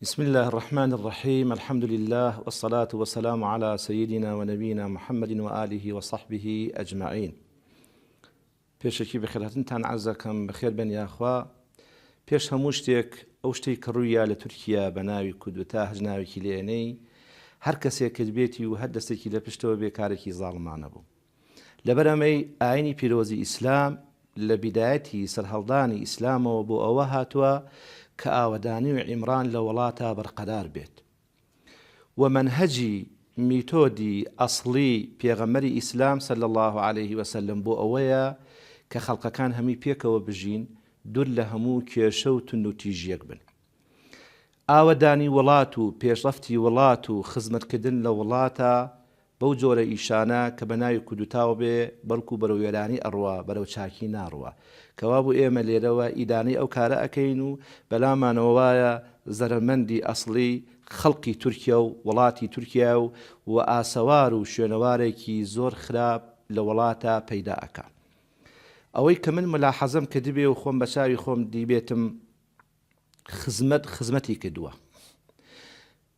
بسم اللە الرحمن الرحیم الحمد للە والصلاة والسلام علی سیدنا و نبینا محمد و آله و صحبه اجمعین پێشەکی بەخێرهاتنتان عەرزەکەم بەخێربێن یاخوا پێش هەموو شتێک ئەو شتێک کە ڕوویە لە تورکیا بە ناوی کودتا هەج ناوێکی لێنەی هەر کەسێکت بێتی و هەر دەستێکی لە پشتەوە بێ کارێکی زاڵمانە بوو لەبەر ئەمەی ئاینی پیرۆزی ئیسلام لە بیدایەتی سەرهەڵدانی ئیسلامەوە بۆ ئەوە هاتوە کە ئاوەدانی و عیمران لە وەڵاتا بەرقەرار بێت و مەنهەجی، میتۆدی، ئەسڵی پێغەمبەری ئیسلام صلی اللە علیە وسلم بۆ ئەوەیە کە خەڵقەکان هەمی پێکەوە بژین دور لە هەموو کێشە و تون و تیژیەک بن. ئاوەدانی وڵات و پێشڕەفتی وڵات و خزمەتکردن لە وڵاتا بەو جۆرە ئیشانە کە بە ناوی کودوتاوە بێ بەلکو بەرەو وێرانی ئەڕوا بەرەو چاکی ناڕوا کەوابو ئێمە لێرەوە ئیدانەی ئەو کارە ئەکەین و بەلامانەوە وایە زەرەرمەندی ئەسڵی خەلقی تورکیا و وەلاتی تورکیایە و و ئاسەوار و شوێنەوارێکی زۆر خراپ لە وەلاتە پەیدا ئەکا ئەوەی کە من ملاحەزەم کردبێ و خۆم بە چاوی خۆم دیبێتم خزمەت خزمەتی کردوە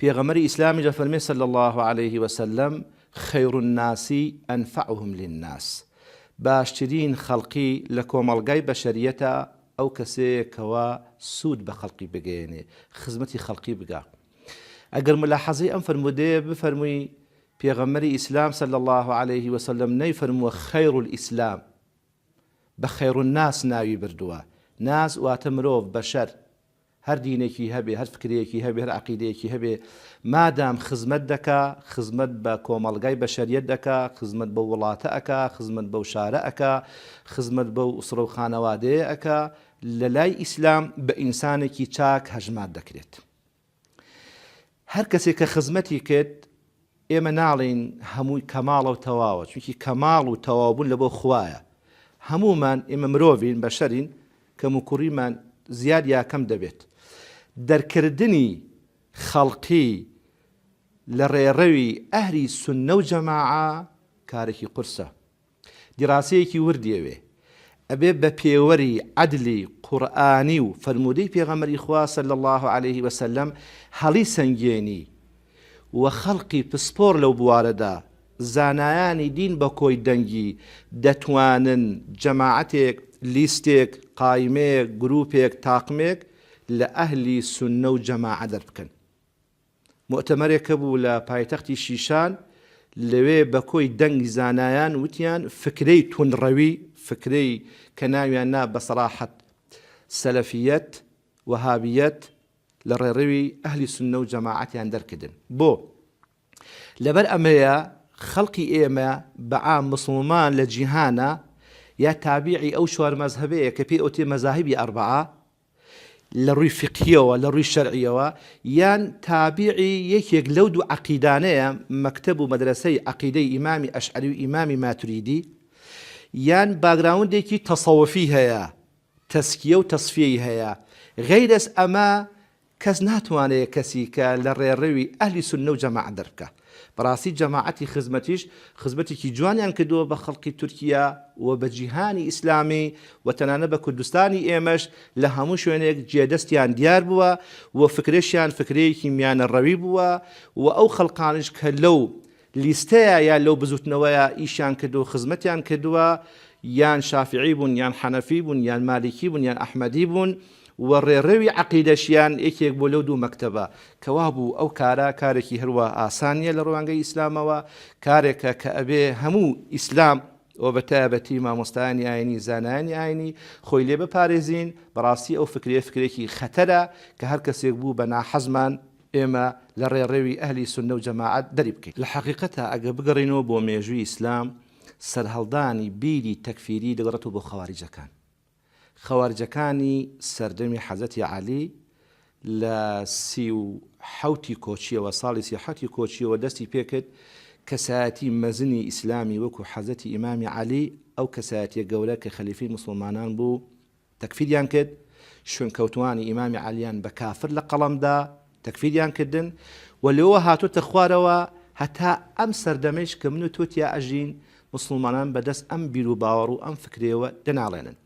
پێغەمبەری ئیسلامیش ئەفەرمێ صلی اللە علیە وسلم، خیر الناس انفعهم للناس، باشترین خەڵقی لە کۆمەڵگای بەشەریەتە ئەو کەسەیە کەوا سوود بە خەڵقی بگەیەنێ، خزمەتی خەڵقی بگا. ئەگەر مولاحەزەی ئەم فەرموودەیە بفەرمووی، پێغەمبەری ئیسلام صلی اللە علیە وسلم نەیفەرمووە خیر الاسلام، بە خیر الناس ناوی بردووە، ناس واتە مرۆڤ، بەشەر، هەر دینێکی هەبێ، هەر فکرەیەکی هەبێ، هەر عەقیدەیەکی هەبێ، مادام خزمەت دەکا، خزمەت بە کۆمەڵگای بەشەریەت دەکا، خزمەت بەو وڵاتە ئەکا، خزمەت بەو شارە ئەکا، خزمەت بەو ئوسرە و خانەوادەیە ئەکا، لەلای ئیسلام بە ئینسانێکی چاک هەژمار دەکرێت. هەر کەسێک کە خزمەتی کرد ئێمە ناڵێین هەمووی کەماڵە و تەواوە چونکی کەماڵ و تەواوبوون لە بۆ خوایە هەموومان ئێمە مرۆڤین بەشەرین کەم و کوڕیمان زیاد یا کەم دەبێت دەرکردنی خەڵقی لە ڕێڕەوی ئەهلی سوننە و جەماعە کارێکی قورسە. دیراسەیەکی وردی ئەوێ. ئەبێ بە پێوەری عەدلی قورئانی و فەرموودەی پێغەمبەری خوا صلی اللە علیە و سلم هەڵی سەنگێنی و خەڵقی پسپۆڕ لەو بوارەدا زانایانی دین بە کۆی دەنگی دەتوانن جەماعەتێک، لیستێک، قایمەیەک، گروپێک، تاقمێک لە ئەهلی سوننە و جەماعە دەربکەن. موئتەمەرێک هەبوو لە پایتەختی شیشان لەوێ بە کۆی دەنگ زانایان وتیان فکرەی توندڕەوی، فکرەی کە ناویان نا بە سەراحەت سەلەفیەت، وەهابیەت، لە ڕێڕەوی ئەهلی سوننە و جەماعەتیان دەرکردن. بۆ؟ لەبەر ئەمەیە خەڵقی ئێمە بە عام موسڵمان لە جیهانا یا تابیعی ئەو چوار مەزهەبەیە کە پێی ئەوترێ مەزاهیبی ئەربەعە، لە ڕووی فیقهیەوە، لە ڕووی شەرعیەوە، یان تابیعی یەکێک لەو دوو عەقیدانەیە، مەکتەب و مەدرەسەی عەقیدەی ئیمامی ئەشعەری و ئیمامی ماتوریدی، یان باگراوندێکی تەسەوفی هەیە، تەزکیە و تەزفیەی هەیە، غەیرەز ئەمە کەس ناتوانێ کەسی کە لە ڕێڕەوی ئەهلی سوننە و جەماعەت دەربکا. بەڕاستی جەماعەتی خزمەتیش خزمەتێکی جوانیان کردووە بە خەڵقی تورکیا و بە جیهانی ئیسلامی و تەنانەت بە کوردستانی ئێمەش لە هەموو شوێنێک جێدەستیان دیار بووە و فکرەشیان فکرەیەکی میانەڕەوی بووە و ئەو خەڵقانەش کە لەو لیستەیە یا لەو بزووتنەوەیە ئیشیان کردووە و خزمەتیان کردووە یان شافیعی بوون یان حەنەفی بوون یان مالیکی بوون یان ئەحمەدی بوون و ڕێڕەوی عەقیدەشیان یەکێک بوو لەو دوو مەکتەبە، کە وا بوو ئەو کارە کارێکی هەروا ئاسان نییە لە ڕوانگەی ئیسلامەوە، کارێکە کە ئەبێ هەموو ئیسلام و بە تایبەتی مامۆستایانی ئاینی زانایانی ئاینی خۆی لێ بپارێزین، بەڕاستی ئەو فکرەیە فکرێکی خەتەرە کە هەر کەسێک بوو بە ناحەزمان ئێمە لە ڕێڕەوی ئەهلی سوننە و جەماعەت دەری بکەین. لە حەقیقەتا ئەگەر بگەڕێینەوە بۆ مێژووی ئیسلام سەرهەڵدانی بیری تەکفیری دەگەڕێتەوە بۆ خەواریجەکان، خەوارجەکانی سەردەمی حەزرەتی عەلی لە سی و حەوتی کۆچیەوە ساڵی سی و حەوتی کۆچیەوە دەستی پێکرد کەسایەتی مەزنی ئیسلامی وەکو حەزرەتی ئیمامی عەلی ئەو کەسایەتیە گەورە کە خەلیفەی موسڵمانان بوو تەکفیریان کرد شوێنکەوتوانی ئیمامی عەلیان بە کافر لە قەڵەمدا تەکفیریان کردن و لێوە هاتۆتە خوارەوە هەتا ئەم سەردەمەیش کە من و تۆ تیا ئەژین موسڵمانان بەدەست ئەم بیر و باوەڕ و ئەم فکرەیەوە دەناڵێنن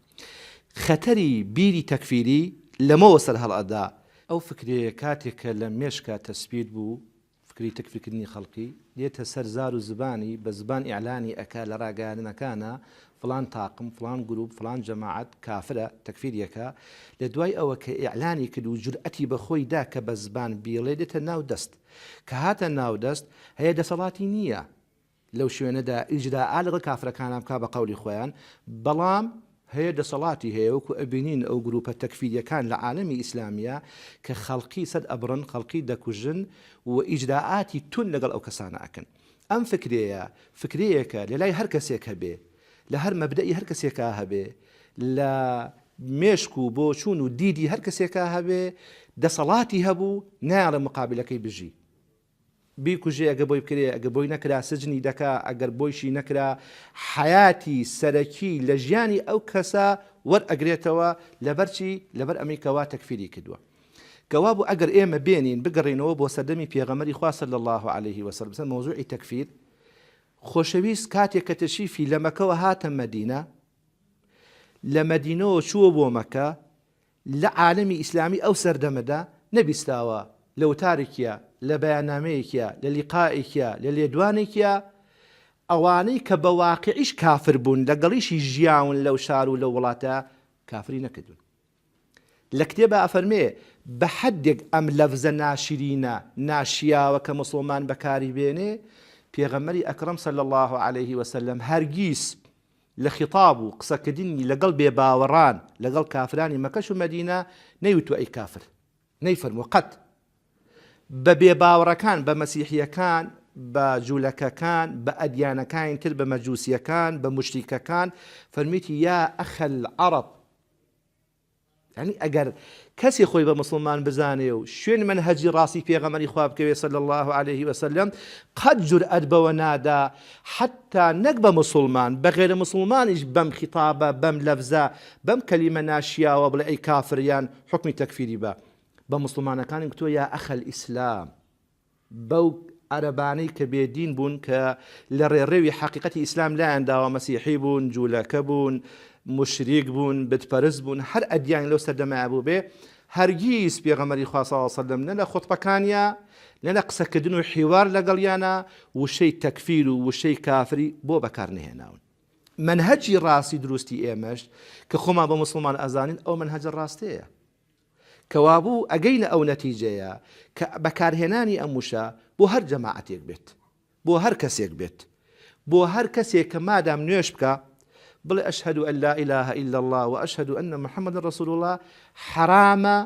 خەتەری بیری تەکفیری لەمەوە سەر هەڵئەدا ئەو فکرەیە کاتێک کە لە مێشکا تەسپیت بوو فکری تەکفیکردنی خەڵکی دێتە سەر زار و زبانی بە زبان ئیعلانی ئەکا لە ڕاگەیاندنەکانە فڵان تاقم، فڵان گروپ، فڵان جەماعەت کافرە، تەکفیر یەکە، لە دوای ئەوە کە ئیعلانی کرد و جورئەتی بە خۆی دا کە بە زبان بیڵێ دێتە ناو دەست. کە هاتە ناو دەست، هەیە دەسەڵاتی نییە لەو شوێنە دا ئیجرائا لەگەڵ کافرەکانا بکا بە قەولی خۆیان، بەڵام هەیە دەسەڵاتی هەیە وەکوو ئەبینین ئەو گروپە تەکفیریەکان لە عالەمی ئیسلامیا کە خەڵکی سەد ئەبڕن، خەڵکی دەکوژن و ئیجرائاتی توند لەگەڵ ئەو کەسانە ئەکەن. ئەم فکرەیە فکرەیەکە لە لای هەر کەسێک هەبێ، لە هەر مەبدەئی هەر کەسێکا هەبێ، لە مێشک و بۆچوون و دیدی هەر کەسێکا هەبێ، دەسەڵاتی هەبوو نایەڵێ موقابلەکەی بژی، بیکوژێ، ئەگەر بۆی بکرێ، ئەگەر بۆی نەکرا سجنی دەکا، ئەگەر بۆیشی نەکرا حەیاتی سەرەکی لە ژیانی ئەو کەسە وەرئەگرێتەوە، لەبەر چی؟ لەبەر ئەمەی کە وا تەکفیری کردووە. کە وابوو ئەگەر ئێمە بێنین بگەڕێینەوە بۆ سەردەمی پێغەمبەری خوا صلی اللە علیە و سلم سەر مەوزوعی تەکفیر خۆشەویست کاتێک کە تەشریفی لە مەکەوە هاتە مەدینە لە مەدینەوە چووە بۆ مەکە لە عالمی ئیسلامی ئەو سەردەمەدا نەبیستاوە لە وتارێکە لە بەیانامەیەکە لە لیقائێکە لە لێدوانێکە ئەوانەی کە بە واقعیش کافر بوون لەگەڵیشی ژیاون لەو شار و لە وڵاتە کافری نەکردون لە کتێبا ئەفەرمێ، بە حەدێک ئەم لەفزە ناشرینە، ناشیاوە کە موسڵمان بەکاری بێنێ، پێغەمبەری ئەکرەم صلی اللە علیە وسلم هەرگیز لە خیتاب و قسەکردنی لەگەڵ بێ باوەڕان، لەگەڵ کافرانی مەکەش و مەدینە، نەیوتوە ئەی کافر. نەیفەرمووە قەت. بە بێ باوەڕەکان، بە مەسیحیەکان، بە جولەکەکان، بە ئەدیانەکانی تر، بە مەجوسیەکان، بە موشریکەکان، فەرمویەتی، یا ئەخ العرب، یانی ئەگەر کەسێ خۆی بە موسڵمان بزانێ و شوێن منهەجی ڕاستی پێغەمەری خوا بکەوێ صلی الله علیه وسلم قەت جورئەت بەوە نادا حتا نەک بە موسڵمان بە غێرە موسڵمانیش بەم خیتابە بەم لەفزە بەم کەلیمە ناشیاوە بڵێ ئەی کافر یان حوکمی تەکفیری بە بە موسڵمانەکانیم کتووە یا ئەخەل ئیسلام بەو عەرەبانەی کە بێ دین بوون کە لە ڕێڕەوی حەقیقەتی ئیسلام لایان داوە مەسیحی بوون، جوولەکە بوون، موشریک بوون، بت پەرست بوون، هەر ئەدیانێک لەو سەردەمەیا بووبێ، هەرگیز پێغەمبەری خوا صلی اللە علیە وسلم نە لە خوتبەکانیا نە لە قسەکردن و حیوار لەگەڵیانا وشەی تەکفیر و وشەی کافری بۆ بەکار نەهێناون. مەنهەجی ڕاستی دروستی ئێمەش کە خۆمان بە موسڵمان ئەزانین ئەو مەنهەجە ڕاستەیە. کەوابوو ئەگەینە ئەو نەتیجەیە کە بەکارهێنانی ئەم وشە بۆ هەر جەماعەتێک بێت، بۆ هەر کەسێک بێت، بۆ هەر کەسێک کە مادام نوێژ بکا بڵێ اشهد ان لا اله الا اللە و اشهد ان محمدا رسول اللە حەرامە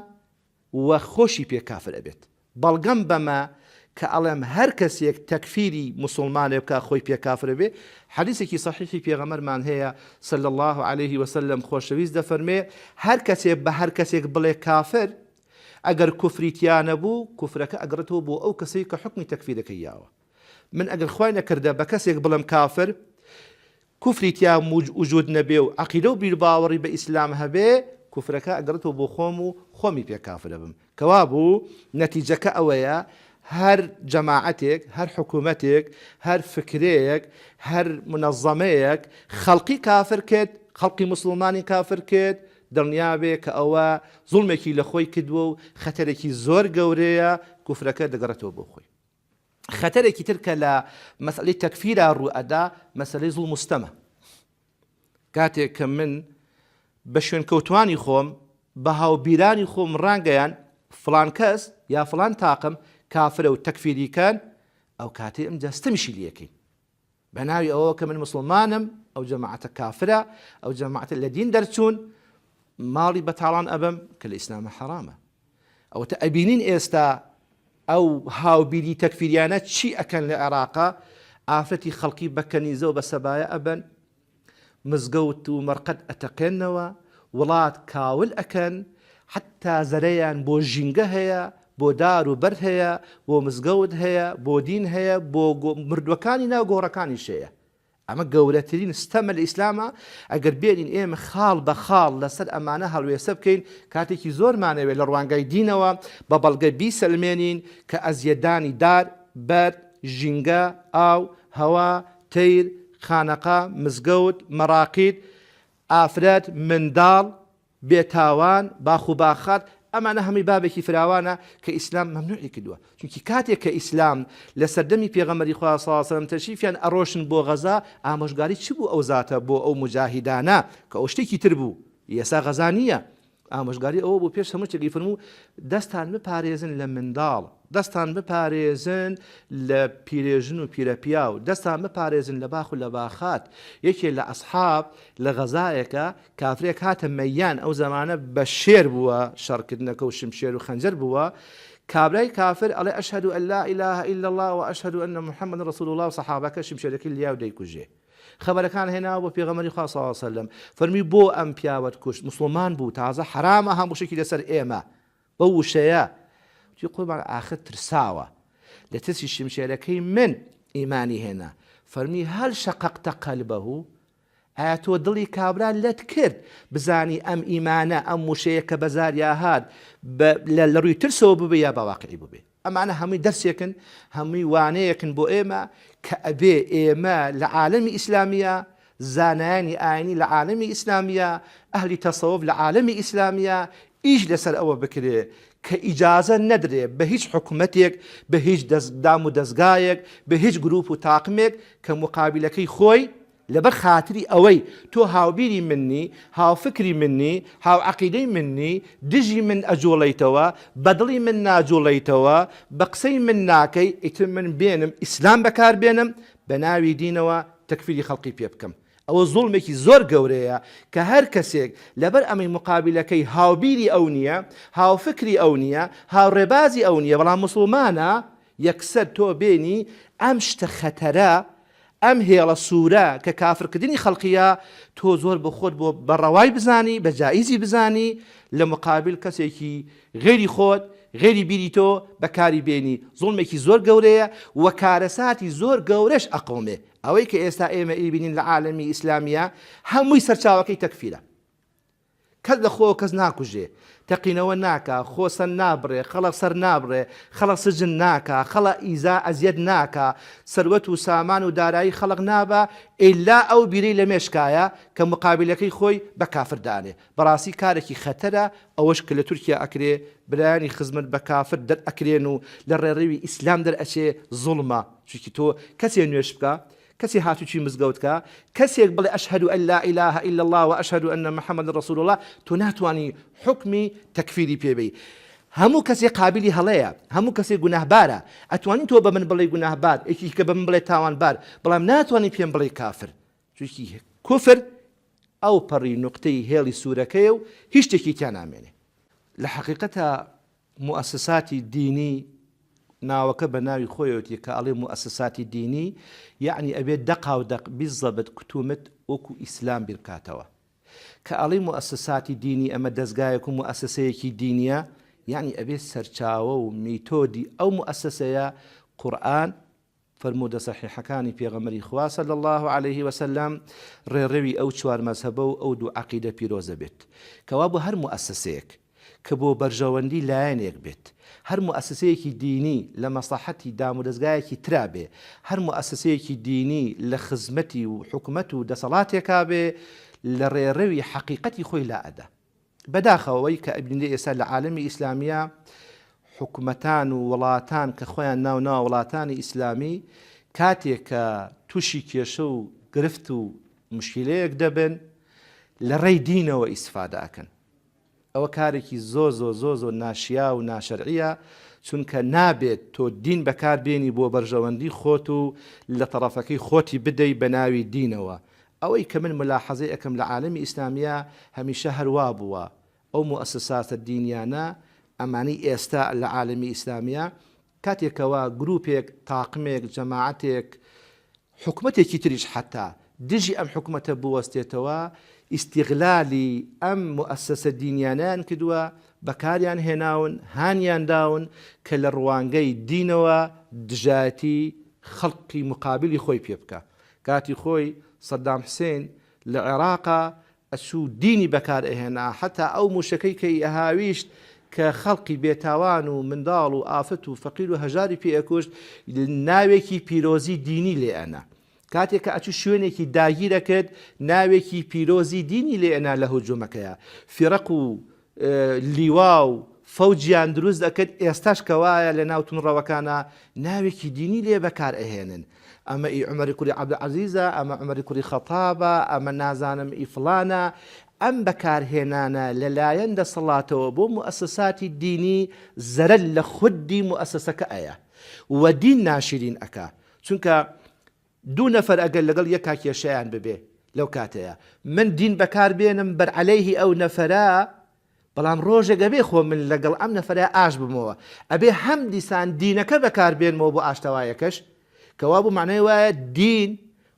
و خۆشی پێ کافر ئەبێت. بەڵگەم بەمە کە ئەڵێم هەر کەسێک تەکفیری موسوڵمانێ بکا خۆی پێ کافر ئەبێ حەدیسێکی سەحیحی پێغەمبەرمان هەیە صلی اللە علیە وسلم خۆشەویست دەفەرمێ هەر کەسێ بە هەر کەسێک بڵێ کافر ئەگەر کوفری تیا نەبوو کوفرەکە ئەگەڕێتەوە بۆ ئەو کەسەی کە حوکمی تەکفیرەکەی یاوە. من ئەگەر خوای نەکردە بە کەسێک بڵێم کافر کوفری تیا وجود نەبێ و عقیدە و بیرباوەڕی بە ئیسلام هەبێ کوفرەکە ئەگەڕێتەوە بۆ خۆم و خۆمی پێ کافرە بم کەوا بوو نەتیجەکە ئەوەیە هەر جەماعەتێک هەر حکوومەتێک هەر فکرەیەک هەر منەظەمەیەک خەڵقی کافر کرد خەڵقی مسلمانی کافر کرد دڵنیابێ کە ئەوە زوڵمێکی لە خۆی کردووە و خەتەرێکی زۆر گەورەیە کوفرەکە دەگەڕێتەوە بۆ خۆی خەتەرێکی تر کە لە مەسەلەی تەکفیرا ڕوو ئەدا مەسەلەی زوڵم و ستەمە کاتێک کە من بە شوێنکەوتوانی خۆم بە هاوبیرانی خۆم ڕانگەیان فلان کەس یا فلان تاقم کافرە و تەکفیریکان ئەو کاتێ ئەم جەستەمیشی لەکەین بەناوی ئەوەوە کە من موسڵمانم ئەو جەماعەتە کافرە ئەو جەماعەتە لە دین دەرچوون ماڵی بەتاڵان ئەبەم کە لە ئیسلامە حەرامە ئەوەتە ئەبینین ئێستا ئەو هاوبیری تەکفیریانە چی ئەکەن لە عێراقا ئافرەتی خەڵکی بەکەنیزەوە بە سەبایە ئەبەن مزگەوت و مەرقەد ئەتەقێنەوە، وڵات کاول ئەکەن، حەتتا زەرەیان بۆ ژینگە هەیە، بۆ دار و بەرد هەیە، بۆ مزگەوت هەیە، بۆ دین هەیە، بۆ مردووەکانی ناو گۆڕەکانیش هەیە. ئەمە گەورەترین ستەمە لە ئیسلامە، ئەگەر بێنین ئێمە خاڵ بە خاڵ لەسەر ئەمانە هەڵوێستە بکەین، کاتێکی زۆرمانەوێت لە ڕوانگای دینەوە بە بەڵگە بیسەلمێنین کە ئەزیەتدانی دار، بەرد، ژینگە، ئاو، هەوا، تەیر، خانەقا، مزگەوت، مەڕاقید، ئافرەت، منداڵ، بێ تاوان، باخ و باخات، ئەمانە هەمووی بابێکی فراوانە کە ئیسلام مەمنوعی کردووە، چونکی کاتێک کە ئیسلام لە سەردەمی پێغەمبەری خوا صلی اللە علیە وسلم تەشریفیان ئەڕۆشن بۆ غەزا ئامۆژگاری چ بوو ئەو زاتە بۆ ئەو موجاهیدانە کە ئەو شتێکی تر بوو ئێسا غەزا نییە ئامۆژگاری ئەوە بوو پێش هەموو شتێکی فەرموو دەستان بپارێزن لە منداڵ، دەستان بپارێزن لە پیرێژن و پیرەپیاو، دەستان بپارێزن لە باخ و لە باخات، یەکێ لە ئەسحاب لە غەزایەکە کافرێک هاتە مەیان ئەو زەمانە بە شێر بووە شەڕکردنەکە و شمشێر و خەنجەر بووە، کابرای کافر ئەڵێ ئەشهەدو ئەن لا ئیلاهە ئیلا اللە و ئەشهەدو ئەن محمدا رسول اللە و سەحابەکە شمشێرەکەی لیا و دەیکوژێ. خەبەرەکان هێناوە بۆ پێغەمبەری خوا صلی اللە علیە وسلم فەرمی بۆ ئەم پیاوەت کوشت موسڵمان بوو تازە حەرامە هەموو شتێکی لەسەر ئێمە بەو وشەیە وتی قوربان ئاخر ترساوە لە ترسی شمشێرەکەی من ئیمانی هێنا فەرمی هەل شەقەقتە قەلبەه ئایا تۆ دڵی کابرا لەت کرد بزانی ئەم ئیمانە ئەم وشەیە کە بەزاریا هات لە ڕووی ترسەوە ببێ یا باواقعی ببێ ئەمانە هەمووی دەرسێکن، هەمووی وانەیەکن بۆ ئێمە کە ئەبێ ئێمە لە عالەمی ئیسلامییا، زانایانی ئاینی لە عالەمی ئیسلامییا، ئەهلی تەسەوف لە عالەمی ئیسلامییا ئیش لەسەر ئەوە بکرێ کە ئیجازە نەدرێ بە هیچ حکومەتێک، بە هیچ دامودەزگایەک، بە هیچ گروپ و تاقمێک کە موقابیلەکەی خۆی لەبەر خاتری ئەوەی تۆ هاوبیری من نی، هاوفکری من نی، هاوعەقیدەی من نی، دژی من ئەجوڵێیتەوە، بەدڵی من ناجوڵێیتەوە، بە قسەی من ناکەی، ئیتر من بێنم ئیسلام بەکار بێنم بە ناوی دینەوە تەکفیری خەڵقی پێ بکەم، ئەوە زوڵمێکی زۆر گەورەیە کە هەر کەسێک لەبەر ئەمەی موقابیلەکەی هاوبیری ئەو نییە، هاوفکری ئەو نییە، هاوڕێبازی ئەو نییە بەڵام موسڵمانە، یەکسەر تۆ بێنی ئەم شتە خەتەرە، ئەم هێڵە سورە کە کافرکردنی خەڵقیە تۆ زۆر بۆ خۆت بۆ بە ڕەوای بزانی بە جائیزی بزانی لە مقابل کەسێکی غەیری خۆت غەیری بیری تۆ بەکاری بێنی زوڵمێکی زۆر گەورەیە و کارەساتی زۆر گەورەش ئەقەومێ ئەوەی کە ئێستا ئێمە ئیبینین لە عالەمی ئیسلامیە هەمووی سەرچاوەکەی تەکفیرە کەس لە خۆوە کەس ناکوژێ، تەقینەوە ناکا، خۆ سەر نابڕێ، خەڵق سەر نابڕێ، خەڵق سجن ناکا، خەڵق ئیزا ئەزیەت ناکا، سەروەت و سامان و دارایی خەڵق نابا، ئیلا ئەو بیرەی لە مێشکایە کە مقابلەکەی خۆی بە کافر دانێ. بەڕاستی کارەکی خەتەرە ئەوەش کە لە تورکیا ئەکرێ، برایانی خزمەت بە کافر دەرئەکرێن و لە ڕێڕەوی ئیسلام دەرئەچێ زوڵمە، چونکی تۆ کەسێ نوێژ بکا، کەچی هاتوچوی مزگەوت کا کەسێک بڵێ اشهد ان لا اله الا اللە و اشهد ان محمدا رسول اللە تۆ ناتوانی حوکمی تەکفیری پێ بەی هەموو کەسێک قابلی هەڵەیە هەموو کەسێک گوناهبارە ئەتوانی تۆ بە من بڵێی گوناهبار یەکی کە بە من بڵێ تاوانبار بەڵام ناتوانی پێم بڵێی کافر چونکی کوفر ئەو پەڕی نوقتەی هێڵی سوورەکەیە و هیچ شتێکی تیا نامێنێ لە حەقیقەتە موئەسساتی دینی ناوەکە بە ناوی خۆیەوتی کە ئەڵێ موئەسساتی دینی یەعنی ئەبێ دەقا و دەق بیزەبت کت و مت وەکوو ئیسلام بیر بکاتەوە کە ئەڵێی موئەسساتی دینی ئەمە دەزگایەک و موئەسسەیەکی دینیە یەعنی ئەبێ سەرچاوە و میتۆدی ئەو موئەسسەیە قورئان فەرموودە سەحیحەکانی پێغەمبەری خوا صلی اللە علیە وسلم ڕێڕەوی ئەو چوار مەزهەبە و ئەو دوو عەقیدە پیرۆزە بێت کەوا بۆ هەر موئەسەسەیەک کە بۆ بەرژەوەندی لایەنێک بێت هەر موئەسەسەیەکی دینی لە مەسڵەحەتی دامودەزگایەکی ترا بێ هەر موئەسەسەیەکی دینی لە خزمەتی و حکومەت و دەسەڵاتێکا بێ لە ڕێڕەوی حەقیقەتی خۆی لا ئەدا. بەداخەوە ئەوەی کە ئەبینرێ ئێستا لە عالەمی ئیسلامییا حکومەتان و وڵاتان کە خۆیان ناو ناوە وڵاتانی ئیسلامی کاتێک کە توشی کێشە و گرفت و مشکلەیەک دەبن لە ڕێی دینەوە ئیسفادە ئەکەن ئەوە کارێکی زۆ زۆ زۆ زۆ ناشیا و ناشەرعە چونکە نابێت تۆ دین بەکاربیێنی بۆ بەرژەوەندی خۆت و لە تەڕەفەکەی خۆتی بدەی بە ناوی دینەوە ئەوەی کە من ملاحەزەی ئەکەم لە عالەمی ئیسلامییا هەمیشە هەر وا بووە ئەو موئەسساسە دینیانە ئەمانەی ئێستا لە عالەمی ئیسلامییا کاتێک کەوا گروپێک تاقمێک جەماعەتێک حکومەتێکی تریش حەتا دژی ئەم حکومەتە بوەستێتەوە ئیستیغلالی ئەم موئەسساسە دینیانەیان کردوە بەکاریان هێناون هانیان داون کە لە ڕوانگەی دینەوە دژایەتی خەڵقی مقابلی خۆی پێ بکا کاتی خۆی سەدام حسین لە عێراقا ئەچوو دینی بەکار ئەهێنا حەتا ئەو موشەکەی کە ی ئەهاویشت کە خەڵقی بێ تاوان و منداڵ و ئافرەت و فەقیر و هەژاری پێ ئەکوشت ناوێکی پیرۆزی دینی لێ ئەنا کاتێ کە ئەچوو شوێنێکی داگیر ئەکرد ناوێکی پیرۆزی دینی لێ ئەنا لە هجومەکەیا فیرەق و لیوا و فەوجیان دروست ئەکرد ئێستاش کەوایە لە ناو تونڕەوەکانا ناوێکی دینی لێ بەکار ئەهێنن ئەمە ئی عومەری کوری عەبدول عەزیزە ئەمە عومەری کوری خەتابە ئەمە نازانم ئی فڵانە ئەم بەکارهێنانە لەلایەن دەسەڵاتەوە بۆ موئەسەساتی دینی زەرەر لە خودی موئەسەسەکە ئەیە و دین ناشیرین ئەکا چونکە دوو نەفەر ئەگەر لەگەڵ یەکا کێشەیان ببێ لەو کاتەیا من دین بەکار بێنم بەر عەلەیهی ئەو نەفەرە بەڵام ڕۆژێک ئەبێ خۆ من لەگەڵ ئەم نەفەرە ئاش بمەوە ئەبێ هەم دیسان دینەکە بەکار بێنمەوە بۆ ئاشتەوایەکەش کەوابوو مەعنای وایە دین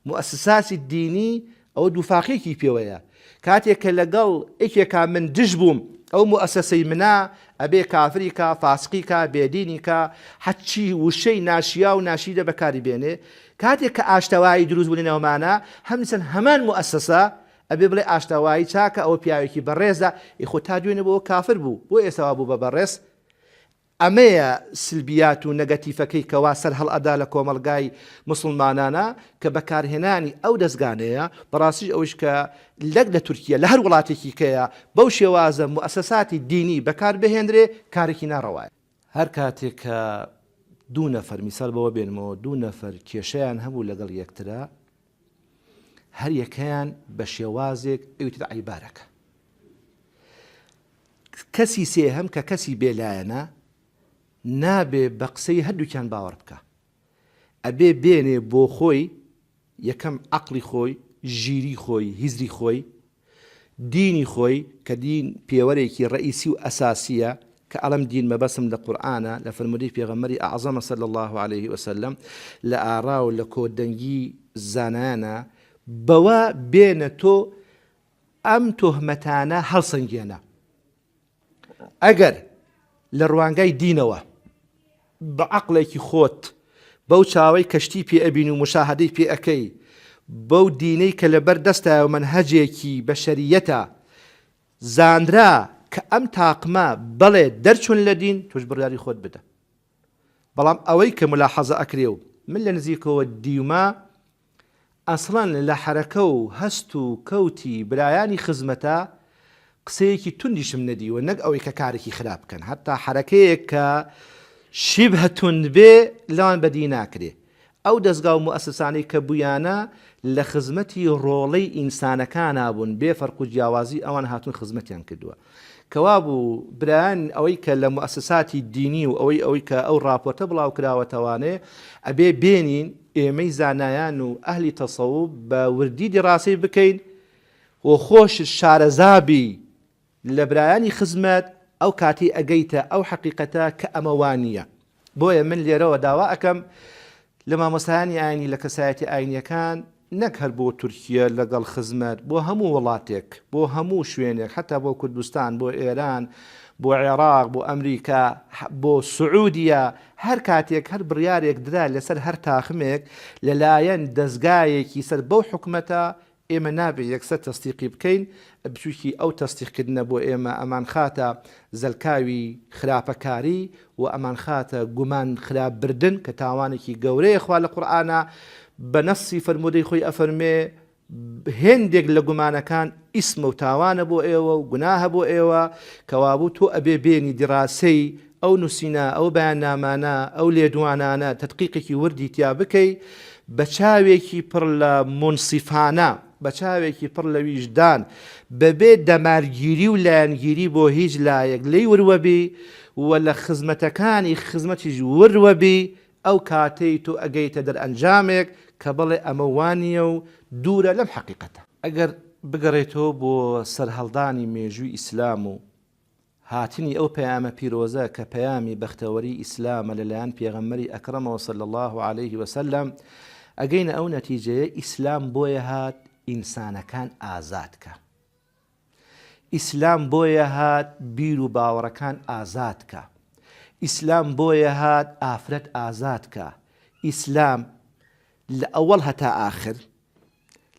موئەسساسی دینی ئەو دوفاقێکی پێوەیە کاتێ کە لەگەڵ ئێکێکا من دژ بووم ئەو موئەسەسەی منە ئەبێ کافری کا فاسقی کا بێدینی کا حەچی وشەی ناشیاو ناشیرە بەکاری بێنێ کاتێ کە ئاشتەوایی دروست بوو لە نێومانا هەمسن هەمان موئەسەسە ئەبێ بڵێ ئاشتەوایی چاکە ئەوە پیاوێکی بەڕێزە ئیخۆ تا دوێنێ بۆ کافر بوو بۆ ئێستا وا بوو بە بەڕێز ئەمەیە سلبیات و نەگەتیفەکەی کەوا سەرهەڵئەدا لە کۆمەڵگای موسڵمانانا کە بەکارهێنانی ئەو دەزگانەیە بەڕاستیش ئەوەیش کە لەک لە تورکیە لە هەر وڵاتێکی کەیە بەو شێوازە موئەسەساتی دینی بەکار بهێنرێ کارێکی ناڕەوایە. هەر کاتێک کە دوو نەفەر میسال بەوە بێنمەوە دوو نەفەر کێشەیان هەبوو لەگەڵ یەکترا هەر یەکەیان بە شێوازێک ئەویتر عەیبارەکە. کەسی سێهەم کە کەسی بێ لایەنە نابێ بە قسەی هەردووکیان باوەڕ بکا. ئەبێ بێنێ بۆ خۆی یەکەم عەقڵی خۆی، ژیریی خۆی، هزری خۆی، دینی خۆی کە دین پێوەرێکی ڕەئیسی و ئەساسیە کە ئەڵێم دین مەبەستم لە قورئانە لە فەرموودەی پێغەمبەری ئەعزەمە صلی اللە علیە وسلم لە ئاڕا و لە کۆدەنگی زانایانە بەوە بێنە تۆ ئەم تۆهمەتانە هەڵسەنگێنە. ئەگەر لە ڕوانگای دینەوە بە عەقڵێکی خۆت بەو چاوەی کە شتی پێ ئەبین و موشاهەدەی پێ ئەکەی بەو دینەی کە لەبەر دەستایە و مەنهەجێکی بەشەرییەتە زانرا کە ئەم تاقمە بەڵێ دەرچوون لە دین تۆش بڕیاری خۆت بدە بەڵام ئەوەی کە مولاحەزە ئەکرێ و من لە نزیکەوە دیومە ئەسڵەن لە حەرەکە و هەست و کەوتی برایانی خزمەتە قسەیەکی توندیشم نەدیوە نەک ئەوەی کە کارێکی خراپ بکەن هەتا حەرەکەیەک کە شیبهە توند بێ لەوان بەدی ناکرێ ئەو دەزگا و موئەسسانەی کە بوویانە لە خزمەتی ڕۆڵەی ئینسانەکانا بوون بێ فەرق و جیاوازی ئەوان هاتوون خزمەتیان کردووە کەوابوو برایان ئەوەی کە لە موئەسەساتی دینی و ئەوەی ئەوەی کە ئەو ڕاپۆرتە بڵاوکراوەتەوانێ ئەبێ بێنین ئێمەی زانایان و ئەهلی تەسەوف بە وردی دیڕاسەی بکەین و خۆشت شارەزا بی لە برایانی خزمەت ئەو کاتەی ئەگەیتە ئەو حەقیقەتە کە ئەمە وا نییە بۆیە من لێرەوە داوا ئەکەم لە مامۆستایانی ئاینی لە کەسایەتی ئاینیەکان نەک هەر بۆ تورکیە لەگەڵ خزمەت بۆ هەموو وڵاتێک بۆ هەموو شوێنێک حتا بۆ کوردستان بۆ ئێران بۆ عێراق بۆ ئەمریکا بۆ سعودیە هەر کاتێک هەر بڕارێک درا لەسەر هەر تاخمێک لەلایەن دەستگایەکی سەر بەو حکومەتە ئێمە نابێ یەکسەر تەسدیقی بکەین، بچووکی ئەو تەسدیقکردنە بۆ ئێمە ئەمانخاتە زەلکاوی خراپەکاری و ئەمانخاتە گومان خراپ بردن کە تاوانێکی گەورەیە خوا لە قورئانا بە نەصی فەرموودەی خۆی ئەفەرموێ هێندێک لە گومانەکان ئیسمە و تاوانە بۆ ئێوە و گوناهە بۆ ئێوە کەوابوو تۆ ئەبێ بێنی دیڕاسەی ئەو نووسینە، ئەو بەیاننامانە، ئەو لێدوانانە تەدقیقێکی وردی تیا بکەی، بە چاوێکی پڕ لە مونسیفانە، بە چاوێکی پڕ لە ویژدان، بە بێ دەمارگیری و لایەنگیری بۆ هیچ لایەک لێی وروە بی و لە خزمەتەکانی خزمەتیش وروە بی، ئەو کاتەی تۆ ئەگەیتە دەرئەنجامێک کە بڵێ ئەمە وا نییە و دوورە لەم حەقیقەتە. ئەگەر بگەڕێیتەوە بۆ سەرهەڵدانی مێژووی ئیسلام و هاتنی ئەو پەیامە پیرۆزە کە پەیامی بەختەوەری ئیسلامە لەلایەن پێغەمبەری ئەکرەمەوە صلی اللە علیە وسلم ئەگەینە ئەو نەتیجەیە ئیسلام بۆیە هات ئینسانەکان ئازاد کا ئیسلام بۆیە هات بیر و باوەڕەکان ئازاد کا ئیسلام بۆیە هات ئافرەت ئازاد کا ئیسلام لە ئەوەڵ هەتا ئاخر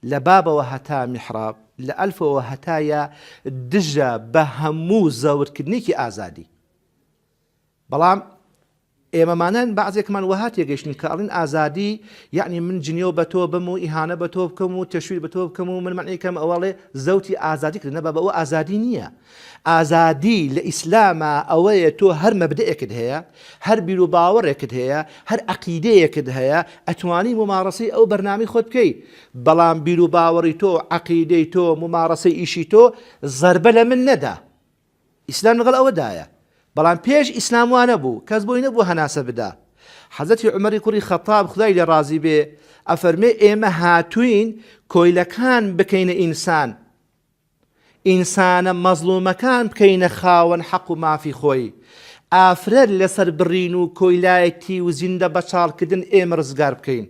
لە بابەوە هەتا میحراب، لە ئەلفەوە هەتا یا دژە بە هەموو زەوتکردنێکی ئازادی. بەڵام ئێمەمانان بەعزێکمان وەها تێگەیشتین کە ئەڵێن ئازادی یەعنی من جنێو بە تۆ بم و ئیهانە بە تۆ بکەم و تەشویر بە تۆ بکەم و من مەنعی کەم ئەوەڵێ زەوتی ئازادی کردنە بابە ئەوە ئازادی نییە ئازادی لە ئیسلاما ئەوەیە تۆ هەر مەبدەئێکت هەیە، هەر بیروباوەڕێکت هەیە، هەر عەقیدەیەکت هەیە، ئەتوانی موماڕەسەی ئەو بەرنامەی خۆت بکەی، بەڵام بیروباوەڕی تۆ، عەقیدەی تۆ، موماڕەسەی ئیشی تۆ زەربە لە من نەدە. ئیسلام لەگەڵ ئەوەدایە. بەڵام پێش ئیسلام وا نەبوو، کەس بۆی نەبوو هەناسە بدا. حەزرەتی عومەری کوڕی خەتاب خودای لێ ڕازی بێ ئەفەرمێ ئێمە هاتووین کۆیلەکان بکەینە ئینسان. ئینسانە مەزڵومەکان بکەینە خاوەن حەق و مافی خۆی، ئافرەت لەسەر بڕین و کۆیلایەتی و زیندە بەچاڵکردن ئێمە ڕزگار بکەین.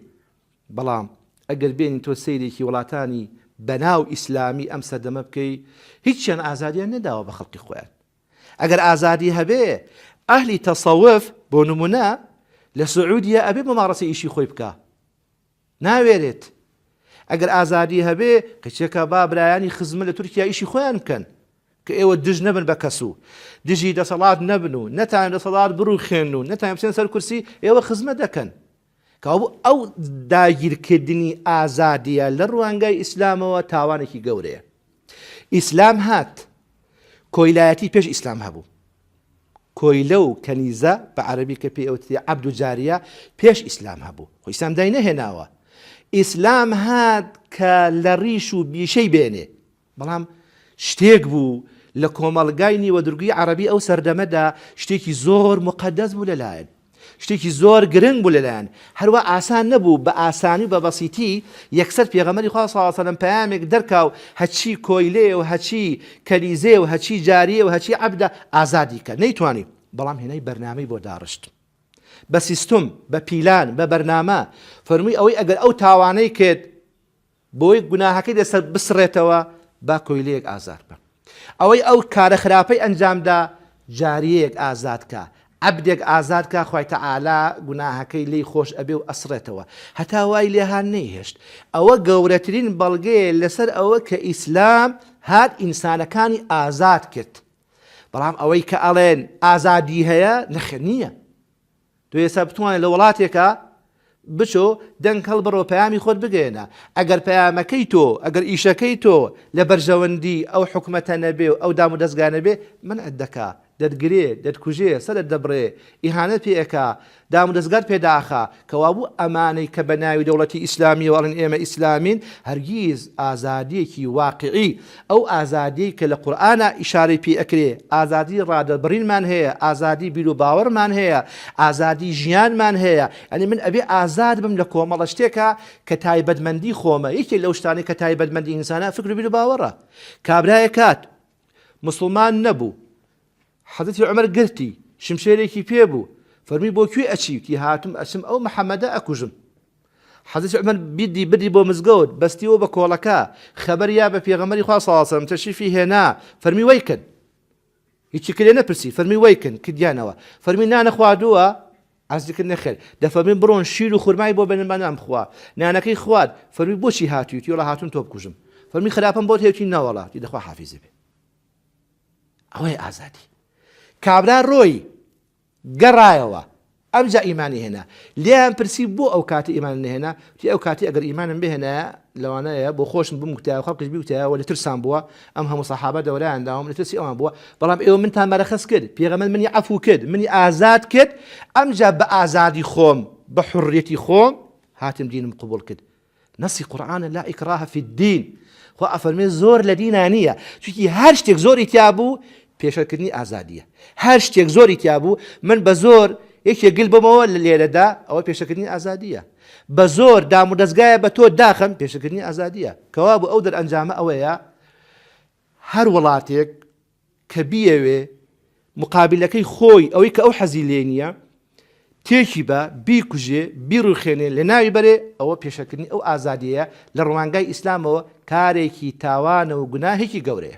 بەڵام ئەگەر بێنی تۆ سەیرێکی وڵاتانی بەناو ئیسلامی ئەم سەردەمە بکەی هیچیان ئازادیان نەداوە بە خەڵکی خۆیان. ئەگەر ئازادی هەبێ ئەهلی تەسەوف بۆ نمونە لە سعودیە ئەبێ مماڕەسەی ئیشی خۆی بکا. ناوێرێت. ئەگەر ئازادی هەبێ کچەکە با برایانی خزمە لە تورکیا ئیشی خۆیان بکەن کە ئێوە دژ نەبن بە کەس و دژی دەسەڵات نەبن و نەتان دەسەڵات بڕوخێن و نەتان بچێن سەر کورسی ئێوە خزمە دەکەن کەوابوو ئەو داگیرکردنی ئازادیە لە ڕوانگای ئیسلامەوە تاوانێکی گەورەیە. ئیسلام هات کۆیلایەتی پێش ئیسلام هەبوو کۆیلە و کەنیزە بە عەرەبی کە پێی ئەوتری عەبد و جاریە پێش ئیسلام هەبوو خۆ ئیسلام دای نەهێناوە ئیسلام هات کە لە ڕیش و بیشەی بێنێ بەڵام شتێک بوو لە کۆمەڵگای نیوەدرگی عەرەبی ئەو سەردەمەدا شتێکی زۆر مقەدەس بوو لەلایەن شتێکی زۆر گرنگ بوو لەلایان هەروا ئاسان نەبوو بە ئاسانی و بە بەسیتی یەکسەر پێغەمبەری خوا صلی اللە علیە و سلم پەیامێک دەرکا و هەچی کۆیلەیە و هەچی کەنیزەیە و هەچی جاریە و هەچی عەبدە ئازادی کە نەیتوانی بەڵام هێنای بەرنامەی بۆ داڕشت بە سیستم بە پیلان بە بەرنامە فەرمووی ئەوەی ئەگەر ئەو تاوانەی کرد بۆی گوناهەکەی لەسەر بسڕێتەوە با کۆیلەیەک ئازاد بم ئەوەی ئەو کارە خراپەی ئەنجامدا جاریەیەک ئازاد کا عەبدێک ئازاد کا خوای تەعالا گوناهەکەی لێی خۆش ئەبێ و ئەسڕێتەوە هەتا وای لێهان نەیهێشت ئەوە گەورەترین بەڵگەیە لەسەر ئەوە کە ئیسلام هات ئینسانەکانی ئازاد کرد بەڵام ئەوەی کە ئەڵێن ئازادی هەیە نەخێر نییە تۆ ئێستا بتوانێت لە وەڵاتێکا بچۆ دەنگ هەڵبڕەوە پەیامی خۆت بگەیەنە ئەگەر پەیامەکەی تۆ ئەگەر ئیشەکەی تۆ لە بەرژەوەندی ئەو حکومەتە نەبێ و ئەو دام و دەزگا نەبێ منعت دەکا دەتگرێ دەتکوژێ سەرت دەبڕێ ئیهانەت پێ ئەکا دام و دەزگات پێ داخا کەوابوو ئەمانەی کە بە ناوی دەوڵەتی ئیسلامیەوە ئەڵێن ئێمە ئیسلامین هەرگیز ئازادیەکی واقعی ئەو ئازادیەی کە لە قورئانا ئیشارەی پێی ئەکرێ، ئازادی ڕادەربڕینمان هەیە، ئازادی بیرو باوەڕمان هەیە، ئازادی ژیانمان هەیە، یانی من ئەبێ ئازاد بم لە کۆمەڵە شتێکا کە تایبەتمەندی خۆمە، یەکێ لەو شتانەی کە تایبەتمەندی ئینسانە فکرو بیرو باوەڕە، کابرایەک هات موسڵمان نەبوو، حەزرەتی عومەر گرتی، شمشێرێکی پێ بوو، فەرمووی بۆ کوێ ئەچی؟ وتی، هاتووم ئەچم ئەو محەمەدە ئەکوژم. حەزرەتی عومەر بیردی بردی بۆ مزگەوت، بەستیەوە بە کۆڵەکە، خەبەری یا بە پێغەمبەری خوا صلی سەلم تەشریفی هێنا، فەرمووی وەی کن! هیچی کرێ نەپرسی، فەرمووی وەی کن! کردیانەوە. فەرمووی نانە خواردووە؟ عەرزی کرد نەخێر. دەفەرمووی بڕۆن شیر و خورمای بۆ بێنن با نان بخوا. نانەکەی خوارد، فەرمووی بۆچی هاتووی؟ وتی وەڵا هاتووم تۆ بکوژم. فەرمووی خراپەم بۆت هەیە؟ وتی نەوەڵا. وتی دە خواحافیزی بێ. ئەوەیە ئازادی. کابرا رۆی، گەڕایەوە، ئەمجا ئیمانی هێنا. لێیان پرسی، بۆ ئەو کاتە ئیمانت نەهێنا؟ وتی، ئەو کاتی ئەگەر ئیمانم بهێنایە، لەوانەیە بۆ خۆشم بمکوتایە و خەڵکیش بیکوتایە و لە ترسام بووە، ئەم هەموو سەحابە دەورایان داوم، لە ترسی ئەوان بووە، بەڵام ئێوە منتان مەرەخەس کرد، پێغەمبەر منی عەفوو کرد، منی ئازاد کرد، ئەمجا بە ئازادی خۆم، بە حوڕیەتی خۆم، هاتم دینم قبووڵ کرد. نەسی قورئانە لا اکراه فی الدین خوا ئەفەرمێ زۆر لە دینا نییە چونکی هەر شتێک زۆری تیا بوو پێشەکردنی ئازادیە هەر شتێک زۆری تیا بوو من بە زۆر یەکێ گل بمەوە لە لێرەدا ئەوە پێشەکردنی ئازادیە بە زۆر دام و دەستگایە بە تۆ داخم پێشەکردنی ئازادیە کەوا بوو ئەو دەرئەنجامە ئەوەیە هەر وڵاتێک کە بیەوێ موقابیلەکەی خۆی، ئەوەی کە ئەو حەزی لێی نییە، تێکی با، بیکوژێ، بیڕووخێنێ، لەناوی بەرێ، ئەوە پێشەلکردنی ئەو ئازادییەیە، لە ڕوانگای ئیسلامەوە کارێکی تاوانە و گوناهێکی گەورەیە.